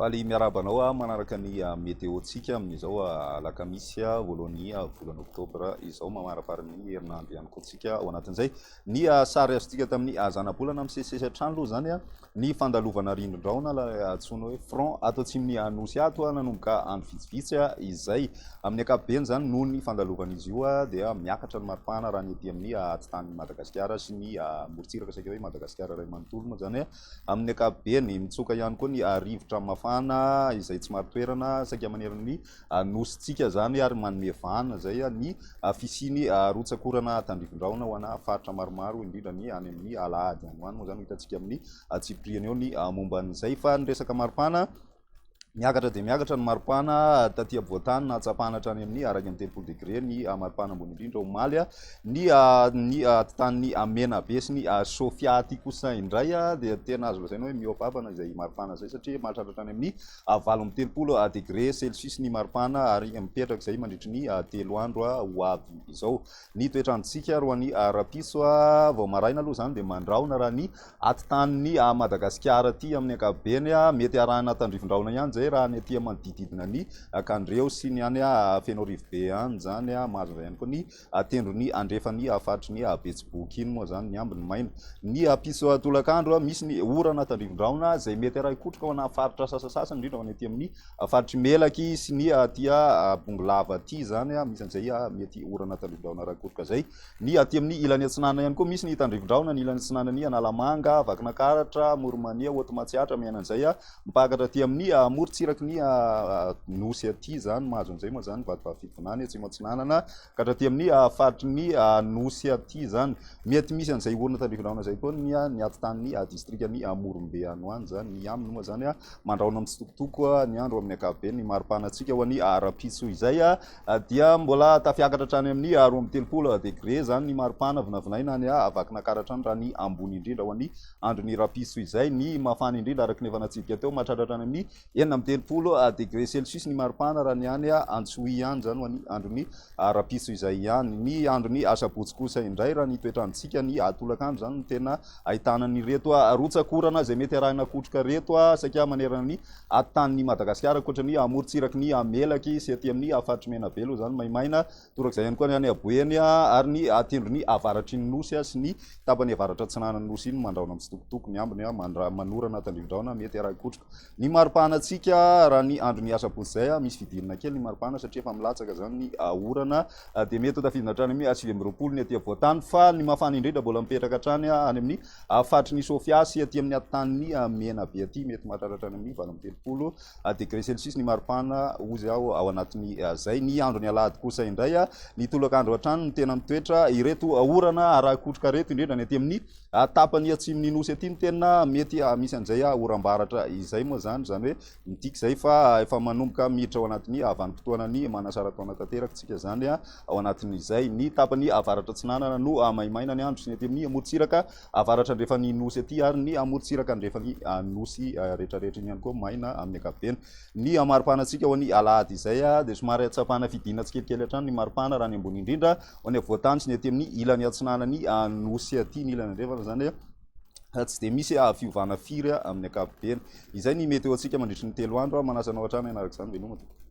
Faly miarahaba anao ah, manaraka ny ah, météo-tsika amin'izao ah, alakamisy voalohan'ny volana oktobra izao mamaraparin'ny herinandro ihany koa tsika ao anatin'izay ny sary azontsika tamin'ny zanabolana misesisesy hatrany aloha izany a ny fandalovana rindrin-drahona ilay antsoina hoe front ato atsimon'ny Anosy ato, nanomboka andro vitsivitsy izay. Amin'ny ankapobeny izany, noho ny fandalovan'izy io dia miakatra ny maripana raha ny ety amin'ny atitan'i Madagasikara sy ny morontsiraka saika hoe Madagasikara iray manontolo moa izany amin'ny ankapobeny. Mitsoka ihany koa ny rivotra mafana izay tsy marin-toerana saika manerana ny Anositsika izany ary manome vahana izay ny fisian'ny rotsak'orana tandrivindraona ho ana faritra maromaro indrindra ny any amin'ny alahady any ho any moa izany ho hitantsika amin'ny antsipiriany eo ny momba an'izay. Fa ny resaka maripana, miakatra dia miakatra ny maripana taty ampovoantany nahatsapana hatrany amin'ny iraika amby telopolo degre ny maripana ambony indrindra omaly ny ny atitanin'ny Menabe sy ny Sofia. Aty kosa indray dia tena azo lazaina hoe mihoa-babana izay maripana izay satria mahatratra hatrany amin'ny a valo amby telopolo degre celsius ny maripana ary mipetraka izay mandritry ny telo andro ho avy izao ny toetr'androntsika roany rahampitso vao maraina aloha izany dia mandrahona raha ny atitaniny madagasikara aty amin'ny ankapobeny a mety arahina tandrivindrahona ihany izay raha ny aty manodididina ny kandreo sy ny any fenorivobe any izany mahazo izay ihany koa ny atendron'ny andrefan'ny faritry ny Betsiboky iny moa izany ny ambiny maina. Ny ampitso tolakandro, misy ny orana tandrivon-drahona izay mety harahin-kotroka ho ana faritra sasasasany, indrindra ho any aty amin'ny faritry Melaky sy ny aty Bongolava aty izany, misy an'izay mety orana tandrivon-drahona harahin-kotroka izay. Ny aty amin'ny ilany atsinanana ihany koa, misy ny tandrivon-drahona ny ilany atsinanan'i Analamanga, Vakinankaratra, Amoronmania, Haute Matsiatra, miaina an'izay. Mipakatra aty amin'ny amorontsiraky ny Nosy aty izany, mahazo an'izay moa izany ny vatovato fidivinana etsy Atsimo-Atsinanana, ka hatraty amin'ny faritry ny Nosy aty izany. Mety misy an'izay orina tandrivinahona izay koa ny ny atitan'ny distrikan'i Morombe any ho any izany. Ny aminy moa izany, mandrahona mitsitokotoko ny andro amin'ny ankapobeny. Ny mari-pana antsika ho an'ny rahampitso izay dia mbola tafiakatra hatrany amin'ny roa amby telopolo degre izany ny mari-pana, vinavinaina any Vakinankaratra any raha ny ambony indrindra ho an'ny andron'ny rapiso izay. Ny mafana indrindra araka ny efa natsidika teo, mahatratra hatrany amin'ny enina amby telopolo degre celsius ny maripana raha ny any Antsohihy any, izany ho an'ny andron'ny rapiso izay ihany. Ny andron'ny asabotsy kosa indray, raha ny toetr'androntsika, ny tolakandro izany no tena ahitana an'ireto rotsak'orana izay mety arahina kotroka ireto saika manerana ny tanin'i Madagasikara, ankoatra ny amorontsiraky ny Melaky sy aty amin'ny faritry Menabelo izany maimaina Torak'izay ihany koa ny any Aboeny ary ny tendrony avaratry ny Nosy sy ny tapany avaratra-atsinanan'ny Nosy iny mandraona mitsitokotoko, ny ambiny manorana tandrivi-drahona mety harahi-kotroka ny maripahanantsika raha ny andron'ny asabotsy izay misy fidirana kely ny maripana satria efa milatsaka izany ny orana dia mety ho tafidina hatrany amin'ny sivy amby roapolo ny aty afovoan-tany fa ny mafana indrindra mbola mipetraka hatrany any amin'ny faritry ny Sofia sy aty amin'ny atintanin'ny Menabe aty mety mahatratra hatrany amin'ny valo amby telopolo degre celsius ny maripana ozy aho ao anatin'ny zay ny andro ny alahady kosa indray a ny tolakandro hatrany no tena mitoetra ireto orana arakotroka reto indrindra ny aty amin'ny tapany atsimon'ny nosy aty no tena mety misy an'izay a orambaratra izay moa zany zany hoe midika izay fa efa manomboka miditra ao anatin'ny avanimpotoana ny manasarataona tanteraka tsika zany a ao anatin'izay ny tapany avaratra tsinanana no amaimaina ny andro sy ny aty amin'ny morontsiraka Avaratra-andrefan'ny Nosy aty ary ny amorontsiraka-andrefan'ny Nosy rehetrarehetra iny ihany koa maina amin'ny ankapobeny ny maripana antsika ho an'ny alahady izay dia somary tsapana fidina tsikelikely hatrany ny maripana raha ny ambony indrindra ho any afovoan-tany sy ny aty amin'ny ilany atsinanan'ny Nosy aty ny ilany andrefana izany tsy dia misy fiovana firy amin'ny ankapobeny izay ny meteo antsika mandritry ny telo andro manasa anao hatrany hanaraka izany veloma tompoko